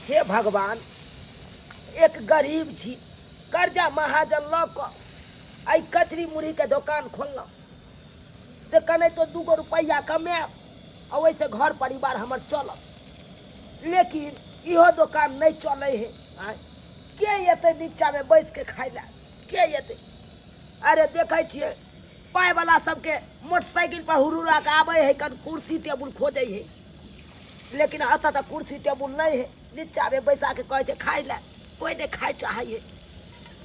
हे भगवान एक गरीब छी कर्जा महाजन लऽ कऽ एहि कचरी मुरहीके दोकान खोललहुँ से कने तो दूगो रुपैआ कमायब आ ओहिसँ घर परिवार हमर चलत लेकिन इहो दोकान नहि चलै हे आँय के अयतै नीचाँमे बैसि कऽ खाय लए के अयतै अरे देखै छियै पायवला सभके मोटरसाइकिलपर हुरुराके आबै हइ कन कुर्सी टेबुल खोजै हइ लेकिन एतऽ तऽ कुर्सी टेबुल नहि है नीचामे बैसा के कहै छै खाइ लए कोइ नहि खाइ चाहै है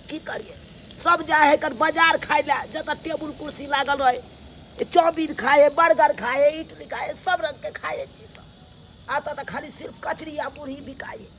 की करिए सब जाइ है कन बाजार खाइ लए जतऽ टेबुल कुर्सी लागल रहै है। चाउमीन खाइ है बर्गर खाइ है इडली खाइ है सब रंग के खाइ है चीज सब एतऽ तऽ खाली सिर्फ कचरी आ मुरही बिकाइ है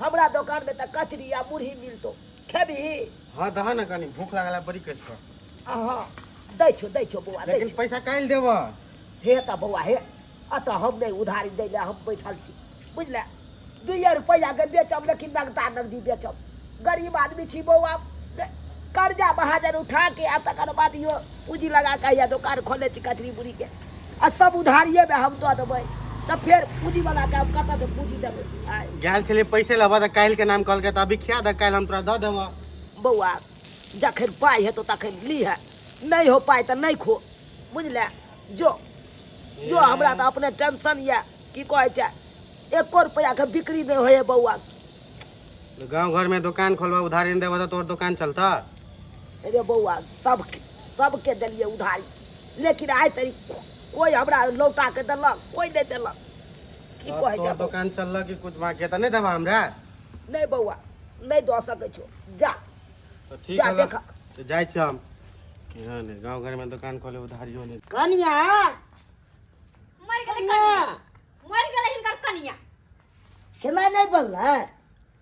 हमरा दोकान में त कचरी आ मुरही मिलतो खेबही हाँ दह ना कनी भूख लागला बड़ी कैस पर अहाँ दै छो दै छो बौआ दै लेकिन छो पैसा काल्हि देबऽ हे त बौआ हे अतः हम नहीं उधारी दै ले हम बैठल छी बुझले दुइये रुपैआ के बेचब लेकिन नगदा नगदी बेचब गरीब आदमी छी बौआ ने- कर्जा महाजन उठा के आ तकर बाद यो पूंजी लगा के या दोकान खोले छी कचरी बुरी के आ सब उधारिये में हम दऽ देबै तऽ फेर पूजी वाला के हम कतऽ से पूजी देबै आय, गैल छलै पैसे लेबऽ तऽ काल्हिके नाम कहलकै तऽ अभी खिया दऽ काल्हि हम तोरा दऽ देबऽ बौआ जखन पाइ हेतौ तखन लीहे नहि हो पाइ तऽ नहि खो बुझले जो जो हमरा तऽ अपने टेंशन यऽ की कहै छै एको रुपैआ के बिक्री नहि होइए बौआ गाँव घरमे दोकान खोलबऽ उधारी नहि देबऽ तऽ तोहर दोकान चलतऽ अरे बौआ सब सबके देलियै उधारी लेकिन आइ तरी कोई हमरा लौटा के देलक कोई नहीं देलक की तोहर- कहे तोहर जाबो दोकान चललक कि कुछ मांग के त नहीं देबा हमरा नहीं बौआ नहीं दऽ सकै छो जा तो ठीक जा, है देखा। तो जाय छी हम कि हां ने गांव घर में दुकान खोले उधारियो नहीं कनिया मर गेलै कनिया मर गेलै हिनकर कनिया खेनाइ नहि बनलै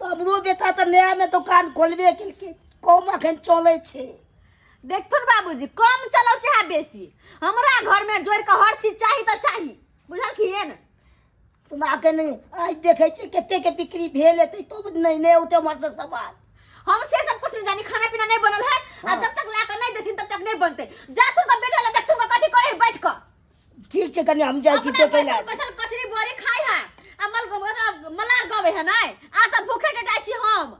तो हमरो बेटा तऽ नया में दुकान खोलबे केलकै कम अखन चलै छै देखथुन बाबूजी कम चलौ चाहे बेसी हमरा घर में जोड़ के हर चीज चाही तो चाही बुझलखिन तुम अखन आज देखे छी कते के बिक्री भेल हेतै तो नहीं नहीं होते हमर से सवाल हम से सब कुछ नहीं जानी खाना पीना नहीं बनल है आ हाँ। जब तक ला के नहीं देथिन तब तक नहीं बनते जा तू का बेटा ला देख तू कथी करे बैठ कर ठीक छै कनी हम जाइ छी अपना टोकै बैसल लए बैसल कचरी बोरी खाइ है आ मल मतलब मलार गवे है नै आ त भूखे डटाइ छी हम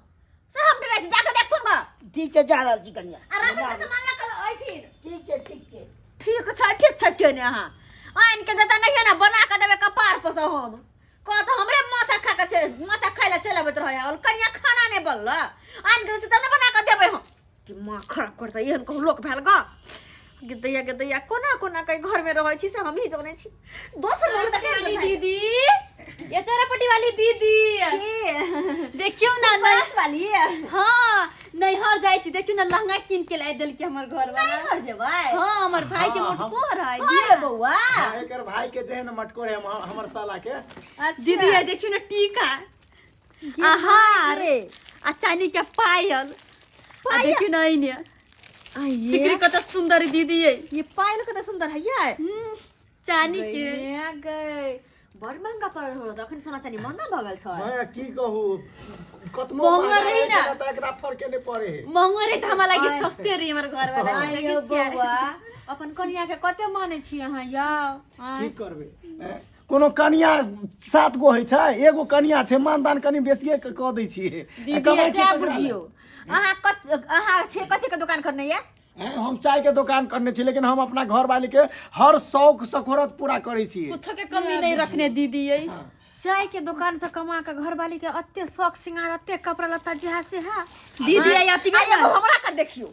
से हम डटाइ छी जाके देखथुन ग ठीक छै जा रहल छी कनिया आ राशन के सामान लऽ कऽ अइथिन ठीक छै ठीक छै ठीक छै ठीक छै केने अहाँ आनि के देता नहि ना बना के देबे कपार पर से हम कह तऽ हमरे माथा खा के चल- माथा खाइ लए चलि अबैत रहै है कनिया खाना नहि बनल आनि के देतै तब ने बना के देबै हम कि माँ खराब करता एहन कहूँ लोक भेल ग गिदैया गिदैया कोना कोना कई घर में रहै छी से हम ही जानै छी दोसर लोग तक वाली दीदी ये चरपटी वाली दीदी देखियो ना ना पास वाली हाँ नैहर जाइ छी देखियो ना लहंगा कीन के ला देलके हमर घर वाला घर जेबै हाँ हमर भाई के हाँ, हम- मोटको रहे अरे बौआ हाँ, एकर भाई के जेहन मटकोर है हम- हमर साला के अच्छा दीदी ये देखियो ना टीका आहार रे। आ चानी के पायल आ पायल? देखियो ना इने आ ये सिकरी कत सुंदर दीदी है ये पायल कते सुंदर है यार चानी के गइया गई बड़ महंगा पड़ल हो तो अखन सोना चानी महंगा भगल छ भैया की कहू कतनो महंगा महंगा रही रहे ना। ना तऽ एकरा फरके नहि पड़े हे महंगा रे धामा लागे आय। सस्ते रे हमर घर वाला आय देखै यौ छियै। बौआ अपन कनिया के कते माने छी अहाँ यौ आय। की करबै हैं? कोनो कनिया सात गो होइ छै एगो कनिया छै मानदान कनि बेसिए के कऽ दै छियै आ दीदी कमाइ ऐसे छियै आप ककरा बुझियो लए? अहाँ कत अहाँ छे कथी के दुकान करने ये हैं, हम चाय के दुकान करने छी लेकिन हम अपना घर वाली के हर शौक सखोरत पूरा करै छी कुछ के कमी नहीं रखने दीदी ये चाय के दुकान से कमा के घर वाली के अत्ते शौक सिंगार अत्ते कपड़ा लत्ता जहा से है दीदी ये अति अरे एगो हमरा का देखियो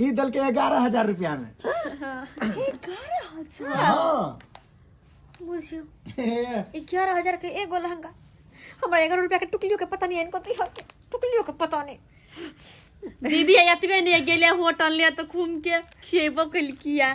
ई दल के ग्यारह हजार रुपया में एगारह हजार हाँ बुझियो एगारह हजार के एगो लहंगा हमरा एगारह रुपया के टुकलियो के पता नहीं है इनको दिया के टुकलियो के पता नहीं दीदी एतबे ने गेले होटल ले तो घूम के खेबो कलकिया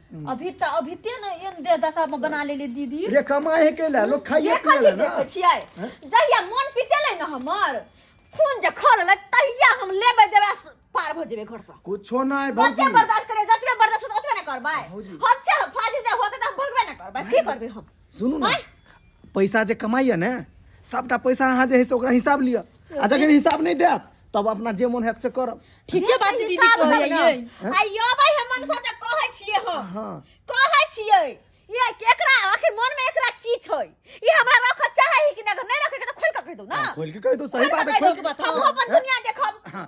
अभी त अभी ते ने एन दे दशा में बना लेले दीदी रे कमाए के ला लोग खाइए ये पिए कथी ला ना देखै छियै जहिया मन पितेलै न हमर खून जे खोललै तहिया हम लेबै देबै आ स- पार भऽ जेबै घरसँ कुछो नहीं बच्चे भौजी बर्दाश्त करे जतबे बर्दाश्त होत ओतबे ने करबै भौजी। हद से फाजी जे होतै तऽ हम भगबे ने करबै की करबै हम सुनू ने पैसा जे कमाइए ने सभटा पैसा अहाँ जे है से ओकरा हिसाब लिअ आ जखन हिसाब नहि देत तब अपना जे मोन हैत से करब ठीक छै बात दीदी कहैयै आइयो भाई हम मनसा त कहै छियै हम हँ कहै छियै ये केकरा आखिर मन में एकरा की छै ई हमरा रख चाहै कि ना अगर नहीं रखे के त खोल के कह दो ना खोल के कह दो सही बात है खोल के बताओ हम अपन दुनिया देखब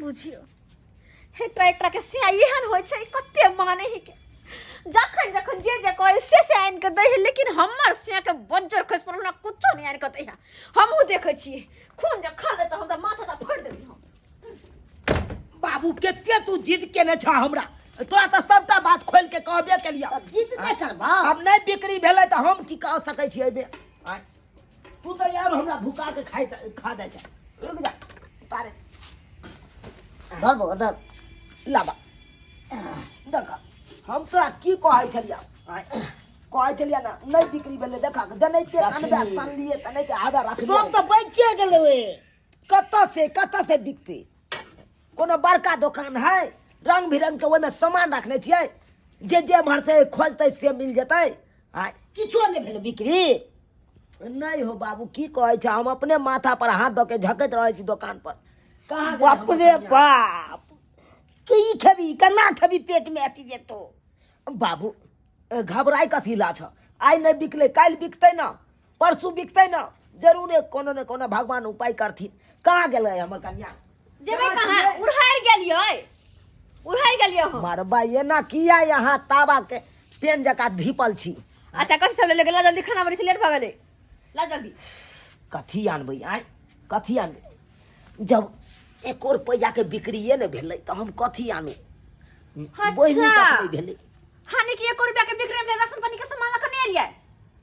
बुझियो हे एकटा एकटा के सिया एहन होइ छै कते माने ही के जखन जखन जे जे कहे से से आनि के दै है लेकिन हमर सिया के बज्जर खस पर हमरा कुछो नहीं आनि के दै है हमहूँ देखै छियै खून जे खा ले तऽ हम तऽ माथा टा फोड़ि देबै हम बाबू कते तू जिद केने छह हमरा तोरा तऽ सबटा बात खोल के कहबे केलिया तब जिद नहि करबा अब नहीं बिक्री भेलै तऽ हम की कह सकै छियै एहिमे आँय? तू तो यार हमरा भूखा के खाई खा दे छै रुक जा तारे धर बो धर लाबा देख हम तोरा की कहै छलिया कहै छलिया ना नहीं बिक्री भेलै देखा जनै ते कानबे सन लिए तनै ते आबे रख सब तो बचे गेलै ओए कत से कत से बिकते कोनो बड़का दोकान है रंग बिरंग के ओहिमे सामान रखने छियै जे जे एम्हर से खोजतै से मिल जेतै आ किछो नहि भेल बिक्री नहि हो बाबू की कहै छै हम अपने माथा पर हाथ दऽ के झकैत रहै छी दोकान पर कहाँ बाप रे बाप की खेबी केना खेबी पेट में अथी जेतो बाबू घबराय कथी ला छ आइ नहि बिकलै काल्हि बिकतै ने परसू बिकतै ने जरूरे कोनो ने कोनो भगवान उपाय करथिन कहाँ गेलै हमर कन्या जेबै कहाँ उड़हर गेलियै उड़हर गेलियै हम मारबा एना किया यहाँ ताबा के पेन जका धीपल छी अच्छा कथी सब ले गेलै जल्दी खाना बनै छै लेट भऽ गेलै ला जल्दी कथी आनबै आय कथी आनबै जब एको रुपैआ के बिक्रिये ने भेलै तऽ हम कथी आनू अच्छा। बोहिनी तक नहि भेलै हानि कि एको रुपया के बिक्री में राशन पानी के सामान लखने एलियै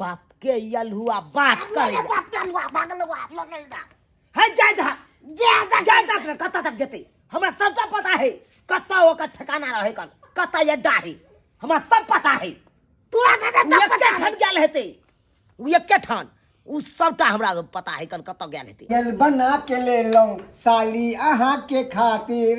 बाप के यल हुआ बात कर ले बाप के लुआ भागल हुआ आप लोग नहीं दा है जाय दा जे दा जाय दा रे कत्ता तक जते हमरा सबटा पता है कत्ता ओकर ठिकाना रहे कन कत्ता ये डाहे हमरा सब पता है तोरा के उ दा एक पता ठन गेल हेते उ एक ठन उ सबटा हमरा पता है कन कत्ता गेल हेते गल बना के ले लो साली अहाँ के खातिर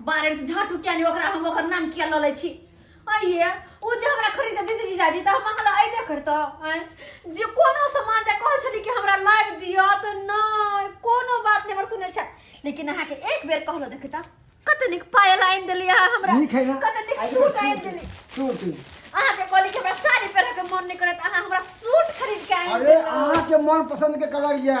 बारे में झाटू किया नहीं ओकरा हम ओकर नाम किया लले छी आइए ओ जे हमरा खरीद दीदी जीजाजी तऽ हम अहाँ लए अयबे करतऽ आँय जे कोनो सामान जे कहै छली कि हमरा लाबि दिअ तऽ नहि कोनो बात नहि हमर सुनै छै लेकिन अहाँके एक बेर कहलो देखी तऽ कते नीक पायल आनि देली अहाँ हमरा नीक है ना कते नीक आज सूट आनि देली सूट अहाँके कहली कि हमरा साड़ी पहिरके मन नहि करत अहाँ हमरा सूट खरीद के आनि अरे देली। अहाँ के मन पसंद के कलर या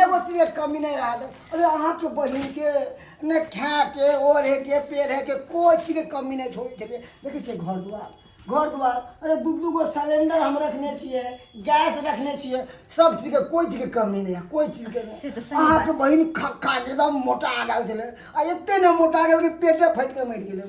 एगो चीज के कमी नहीं रहा अरे अहाँ के बहिन के न खाए के ओढ़े के पेढ़े के कोई चीज के कमी नहीं छोड़ी छलिए देखै छियै घर दुआर घर दुआर अरे दू दू गो सिलेंडर हम रखने छियै गैस रखने छियै सब चीज के कोई चीज के कमी नहीं है कोई चीज के से तऽ नहीं सही अहाँ के बहिन खा खा के एकदम मोटा आ गेल छलै आ एते ने मोटा गेल कि पेटे फाटि के मरि गेलै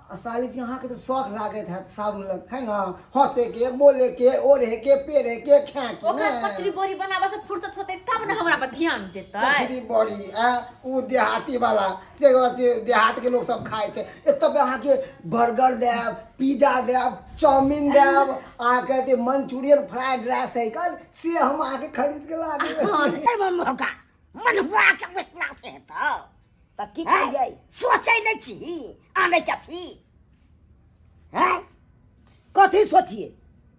साली जी अहाँके तऽ शौक लागैत हैत साबुन लग है ना हंसे के बोले के ओढ़े के पेरे के खाए के ओकरा ने कचरी बोरी बनाबऽ से फुर्सत होतै तब ने हमरा पर ध्यान देतै कचरी बड़ी आ उ देहाती वाला से कहते देहात के लोग सब खाए छै एतऽ पे अहाँके बर्गर देब पिज्जा देब चाउमीन देब आ कहते मंचूरियन फ्राइड राइस है कल से हम अहाँके खरीद के ला देब मन मौका मन हुआ के विश्वास है तो तऽ की हैं? कहियै सोचै नहि छी आनै कथी हैं कथी सोचिए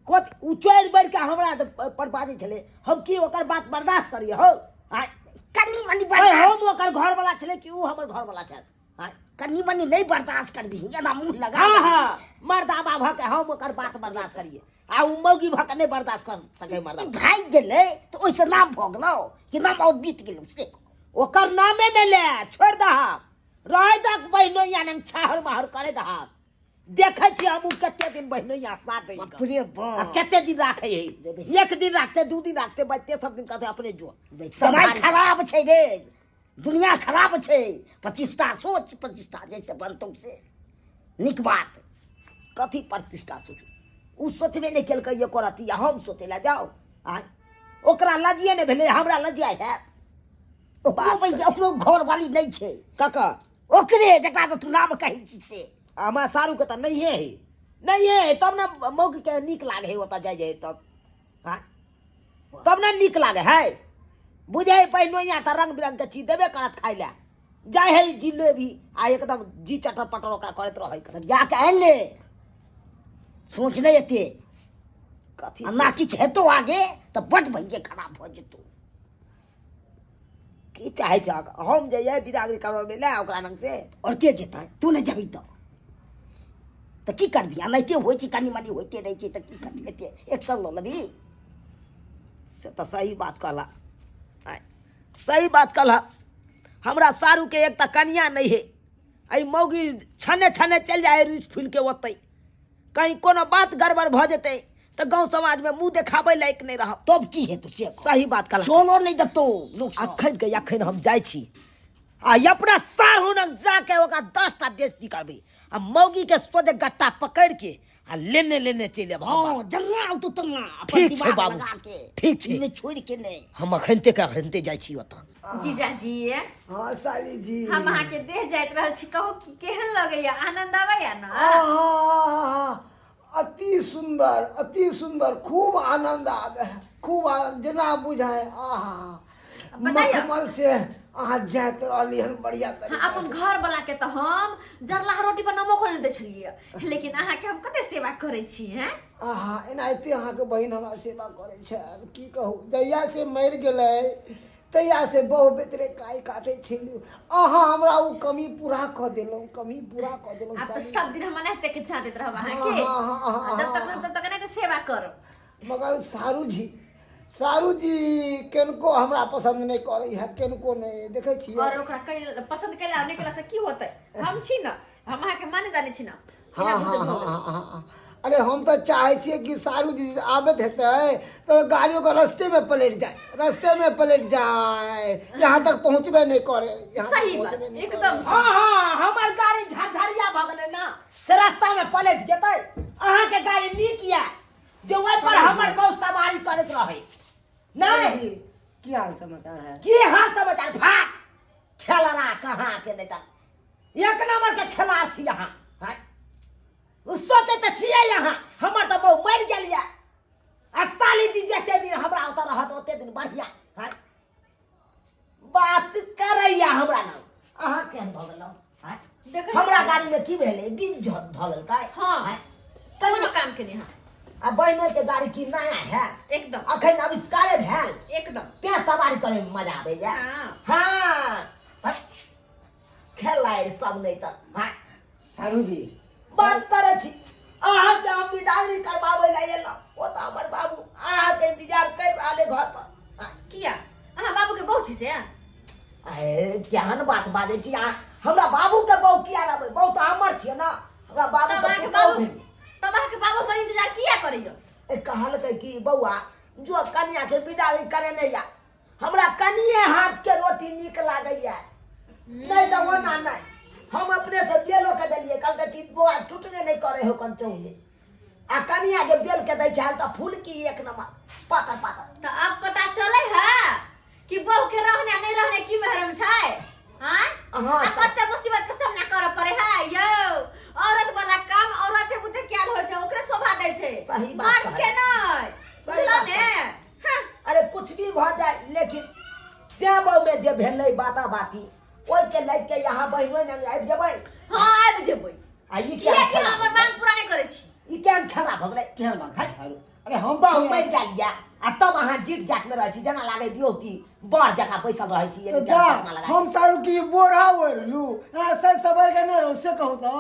कथी ओ चोरि बढ़ि कऽ हमरा तऽ प- पर बाजै छलै हम की ओकर बात बर्दाश्त करियै हौ आँय? कनी मनी अरे बर्दाश्त हम ओकर घरवला छलै कि ओ हमर घरवला छल आँय? कनी मनी नहि बर्दाश्त करबिही एना मुँह लगा हाँ हाँ मर्दाबा भऽ के हम ओकर बात बर्दाश्त करियै आ उ मौगी भऽ कऽ नहि बर्दाश्त कर सकै मर्दा भागि गेलै तऽ ओहिसँ नाम भऽ गेलौ कि नाम आओर बीत गेलौ से कहू। ओकर नामे नहि ले छोड़ि दहक रहै दहक बहिनोइया ने छाहर बाहर करे दहक देखै छी हमहूँ कते दिन बहिनोइया साथ दै कऽ। अपने आ बाप कते दिन राखै है एक दिन राखते दू दिन राखते बचते सब दिन कहते अपने जो बेसी समय भारी। खराब छै रे दुनिया खराब छै प्रतिष्ठा सोच प्रतिष्ठा जैसे बनतौ से नीक बात कथी प्रतिष्ठा सोच ओ सोचबे नहि केलकै ये करत या हम सोचे लए जाउ आय ओकरा लजिए नहि भेलै हमरा लजिया हैत ओकरो बैठे ओकरो घरवाली नहि छै ककर ओकरे जकरा तऽ तू नाम कहै छी से हमरा सारूके तऽ नहिए हइ नहिए हइ तब ने मौगीके नीक लागै हइ ओतऽ जाइ जाइ तब आँय तब ने नीक लागे है बुझे पहिनोइया तऽ रंग बिरंग के चीज देबे करत खाय ले जाय है जिलेबी आ एकदम जी चटर पटर ओकरा करैत रहै सरिया के आयल ले सोच ले एते कथी आ ना किछु हेतौ आगे तऽ बड भैये खराब भऽ जेतौ की चाहे छ हम जइए बिदागरी करबे ले ओकरा लग से और के जेतै तू ने जबी तो तऽ की करबी एनाहिते होइ छै कनी मनी होइते रहै छै तऽ की करबी एते एक्शन लऽ लेबी से तऽ सही बात कहला सही बात कहला हमरा सारूके एक तऽ कनिया नहि हे एहि मौगी छने छने चलि जाइ रुसि फुलिके ओतै कहीं कोनो बात गड़बड़ भऽ जेतै तऽ गाँव समाजमे मुँह देखाबै लायक नहि रहब तब की हेतौ से कह। सही बात कहला चलो नहि देतौ लोक सब। अखन के अखन हम जाइ छी आ ई अपना सारहु लग जाके ओकरा दस टा बेच निकालबै आ मौगी के सोझे गट्टा पकड़ के आ लेने लेने चलि आब हम हँ जल्ला आउ तू तल्ला अपन ठीक छै दिमाग बाबू, लगा के ठीक छै। ई नहि छोड़ि के नहि हम अखनते के अखनते जाइ छी ओतऽ जीजाजी हाँ साली जी हम अहाँ के देह जाइत रहल छी कहू कि केहन लगैया आनंद आबैया ना आहा, अति सुंदर अति सुंदर खूब आनंद आवे है खूब आनंद जेना बुझाय आहा बताइए। मखमल से अहाँ जाइत रहली हन बढ़िया हाँ, तरीका अपन से घर वाला के तो हम जरलाहा रोटी पर नमको नहीं दे छलिए लेकिन अहाँ के हम कते सेवा करे छी हैं आहा एनाहिते अहाँके बहिन हमरा सेवा करै छल की कहू जहिया से मरि गेलै तहिया से बहु बेतरे काई काटै छलू अहाँ हमरा ओ कमी पूरा कऽ देलहुँ कमी पूरा कऽ देलहुँ आप तो साली। सब दिन हम अनाहते के छाँ देत रहब अहाँ के हाँ, हाँ, हाँ, हाँ, जब तक हाँ। हम तब तक अनाहते सेवा करब मगर सारू जी सारू जी किनको हमरा पसन्द नहि करै है किनको नहि देखै और छियै ओकरा कई पसंद कैला नहीं कैला से की होते हम छी ना हम अहाँके माने जाने छी ना हाँ हाँ हाँ हाँ हाँ, हाँ। अरे हम तो चाहे छिए कि सारू जी आबत हेतै तो गाड़ियों के रस्ते में पलट जाए रस्ते में पलट जाए यहाँ तक पहुँचबे नहीं करे यहाँ तक सही बात पहुँचबे नहीं एकदम करे। हाँ हाँ हमर गाड़ी झरझरिया भऽ गेलै ना से रास्ता में पलटि जेतै अहाँके गाड़ी नीक यऽ जे ओहि पर हमर गाँव सवारी करैत रहै सारू नहीं जी, की हाल समाचार है की हाल समाचार भाग खेलरा कहाँ के नहीं तन एक नंबर के खेलाड़ छी यहाँ हैं? उ सोचे तो छिए यहाँ हमर तो बहु मर गेलिए आ साली जी जते दिन हमरा ओतऽ रहत ओते दिन बढ़िया हैं? बात करैया हमरा नाम अहाँ केहन भऽ गेलहुँ हैं? देखै हमरा गाड़ी में की भेलै बीज झ- धऽ लेलकै हाँ। आँय? तैयो कोनो काम के नहीं हाँ आ बहिनो के गाड़ी की नया है एकदम अखन आविष्कारे भेल एकदम तें सवारी करे में मजा आबे जा हाँ। हाँ हट। खेला रे सब नहीं तऽ हाँ सारू जी बात करे छी अहाँ के हम विदाई नहीं करबाबै ला एलहुँ ओ तऽ हमर बाबू अहाँ के इंतजार कर रहले घर पर हाँ। किया अहाँ बाबू के बहु छी से अहे केहन बात बाजै छी अहाँ हमरा बाबूके बहु किया रहबै बहु तऽ हमर छियै ने हमरा तब बाबूके अहाँके पुतहु बाबू भेल तब अहाँके बाबू हमर इंतजार किया करैया ए, कहलकै कि बौआ जो कनियाके विदाई करेने या हमरा कनिए हाथके रोटी नीक लागैया नहि तऽ ओना नहि हम अपने से बेलो के देलियै कहलकै कि बौआ टूटबे नहि करे हो कन चौले आ कनिया जे बेल के दै छै तऽ फूल की एक नंबर पातर पातर तऽ अब पता चले है कि बहू के रहने आ नहीं रहने की महरम छै हां अहाँ आ सब- कते मुसीबत के सामना करऽ पड़े है यौ औरत वाला काम औरत के बुते क्या होय छै ओकरे शोभा दै छै सही बात मर्द कहै। के नै सही बुझलौ बात ने हाँ, अरे कुछ भी भ जाए लेकिन श्याम बहू में जे भेलै बाता बाती ओहि के लग के यहाँ बहिनो ने आबि जेबै हाँ आबि जेबै आ ई किया किया कि खराब हमर भऽ मांग पूरा नहि करै छी गेलै? ई केहन खराब भऽ गेलै केहन मन खाइ सारू अरे हम तऽ हम मरि गेल यऽ आ तब अहाँ जीट जाट में रहै छी जेना लागै दियौ कि बड़ जकाँ बैसल रहै छी तो एनी जा टाइम चश्मा लगा हम सारू की बोरा ओढ़लू हाँ सर सबर के ना रहो से कहू तो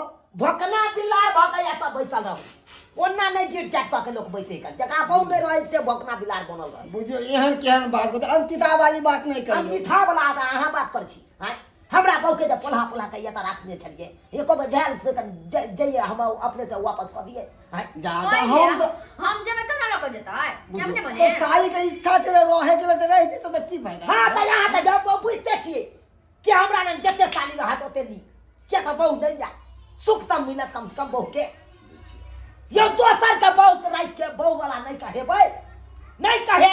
भोकना बिलार भऽ कऽ या तब बैसल रहू ओना नहि जीट जाट कऽ के लोक बैसे कऽ जकरा बहु में रहै से भोकना बिलार बनल रहै बुझियो एहन केहन बात करते अंतिता वाली बात नहीं करियो अंतिथा बला अहाँ बात करै छी आँय हमरा बहुके जे पोल्हा पोल्हा कहिए तऽ राखने छलियै एको बेर भेल से तऽ जे- जइए हम अपने से वापस कऽ दिए हैं, जा जा, कहि हम दिअ, तऽ- हम जेबै तब ने लऽ कऽ जेतै बुझू, जब ने बने तऽ साली के इच्छा छलै रहे के तऽ रहि जेतै तऽ की फायदा हाँ तऽ यहाँ तऽ जब बहु बुझते छियै कि हमरा लग जते साली रहत ओते ली किया तऽ बहु नहीं या सुख तऽ मिलत कम से कम बहु के यो दोसर के बहु के राखि के बहु वाला नहीं कहेबै नहीं कहे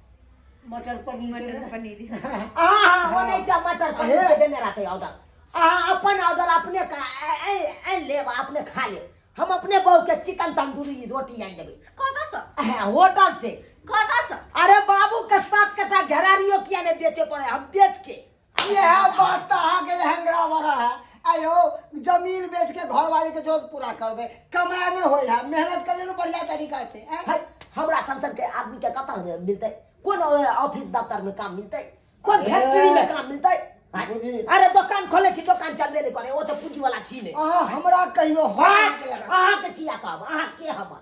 मटर पनीर के मटर ने? पनीर अहाँ ओ नहि जा मटर पनीर के देने रहतै ऑर्डर अहाँ अपन ऑर्डर अपने का आनि लेब आ अपने खा लेब हम अपने बहू के चिकन तंदूरी रोटी आनि देबै कतऽ सँ अहाँ होटल से कतऽ सँ अरे बाबू के सात कटा घेरारियो किया नहि बेचे पड़े हम बेच के यह बात तो अहाँ के लहंगरा वाला है आयो जमीन बेच के घर वाले के जोत पूरा करबे कमाए में होय है मेहनत करे बढ़िया तरीका से हैं? है हमरा सन सन के आदमी के कतऽ में मिलतै कोन अ, ऑफिस दफ्तर में काम मिलतै कोन अरे। फैक्ट्री में काम मिलतै हैं? बुझी। अरे दोकान खोले छी दोकान चलबे नहीं करे ओ तो पूंजी वाला छी नहीं अहाँ हमरा कहियो हम अहाँ अहाँ के किया कहब अहाँ के हमर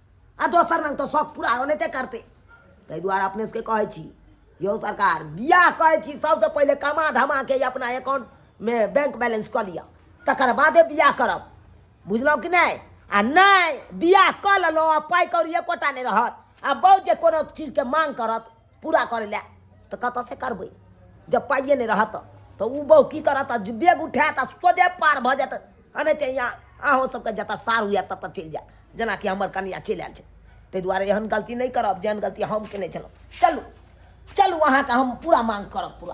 आ दोसर रंग तऽ शौक पूरा होनेते करतै ताहि दुआरे अपने सबके कहै छी यौ सरकार बियाह करै छी सबसँ पहिले कमा धमाके अपना एकाउंटमे बैंक बैलेंस कऽ लिअ तकर बादे बियाह करब बुझलहुँ कि नहि आ नहि बियाह कऽ लेलहुँ आ पाइ कौड़ी एकोटा नहि रहत आ बहुत जे कोनो चीजके मांग करत पूरा करै लए तऽ कतऽसँ करबै जब पाइए नहि रहत तऽ ओ बहु की करत आ बेग उठायत आ सोझे पार भऽ जायत एनाहिते यहाँ अहूँ सबके जतऽ सार हुए ततऽ चलि जायत जेनाकि हमर कनिया चलि आयल छै ताहि दुआरे एहन गलती नहि करब जेहन गलती हम केने छलहुँ चलू चलू अहाँके हम पूरा मांग करब पूरा